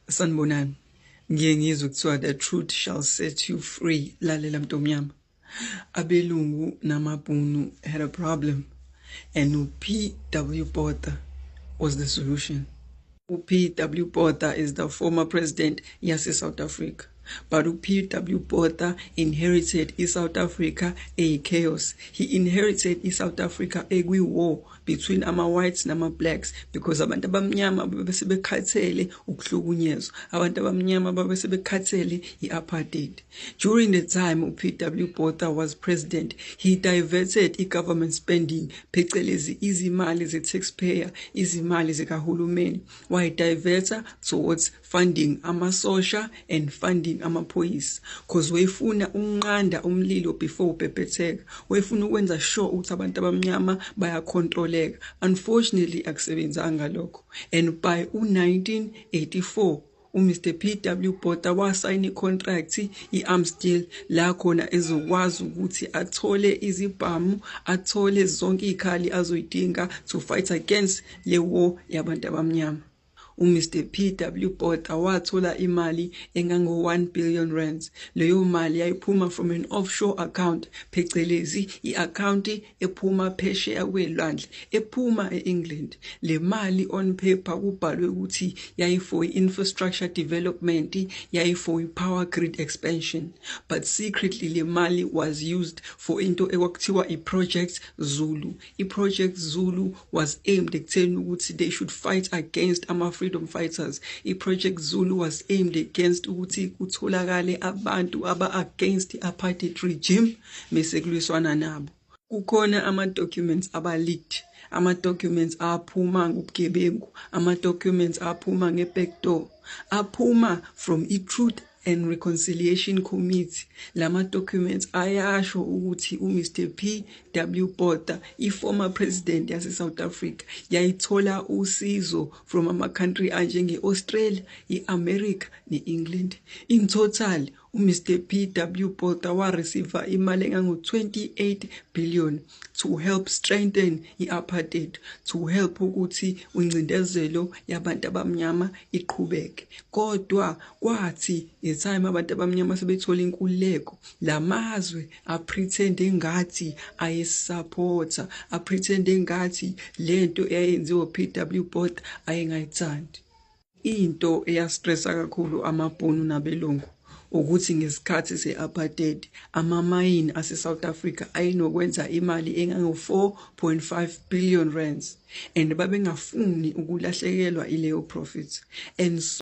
sanibonani ngiye ngizwe kuthiwa the truth shall set you free lalela mntomnyama abelungu namabhunu had a problem and upw botha was the solution upw botha is the former president yase-south africa but upw botha inherited i-south africa eyi-chaos he inherited i-south africa ekwi-war between ama-whites nama-blacks because abantu abamnyama babese bekhathele ukuhlukunyezwa abantu abamnyama babese bekhathele i-apartheid during the time up w botha was president he diverted i-government spending phecelezi izimali ze-taxpayer izimali zikahulumeni wayidiverta towards funding amasosha and funding amaphoyisa cause wayefuna ukunqanda umlilo before ubhebhetheka wayefuna ukwenza sure ukuthi abantu abamnyama bayacontroleka unfortunately akusebenzanga lokho and by u1984 uMr PW Botha wasayina icontract iAmstel la khona ezokwazi ukuthi athole izibhamu athole zonke izikhali azoyidinga to fight against le war yabantu abamnyama UMr PW Botha wathola imali engango-1 billion rands. Leyo mali yayiphuma from an offshore account phecelezi i-akhawunti ephuma phesheya kwelwandle ephuma e-England. Le mali on paper kubhalwe ukuthi yayi-for i-infrastructure development, yayi-for i-power grid expansion. But secretly le mali was used for into ekwakuthiwa i-Project Zulu I-Project Zulu was aimed ekutheni ukuthi they should fight against ama-freedom fighters. I-Project Zulu was aimed against ukuthi kutholakale abantu aba-against i-apartheid regime mese kulwiswana nabo. Kukhona ama-documents aba-leaked ama-documents aphuma ngobugebengu ama-documents aphuma nge-back door aphuma from i-truth and Reconciliation Committee lama documents ayasho ukuthi uMr PW Botha iformer president yase South Africa yayithola usizo from ama country anjenge Australia, iAmerica neEngland. In total uMr PW Botha wa receive imali engango 28 billion to help strengthen i-apartheid to help ukuthi uncindezelo yabantu abamnyama iqhubeke kodwa kwathi ngetime abantu abamnyama sebethola inkululeko lamazwe apretend engathi ayesupporta apretend engathi lento eyayenziwa PW Botha ayengayithandi Into eyastressa kakhulu amabhunu nabelungu ukuthi ngesikhathi se-apartheid amamayini ase-south africa ayenokwenza imali engango-4.5 billion rands and babengafuni ukulahlekelwa ileyo profit and so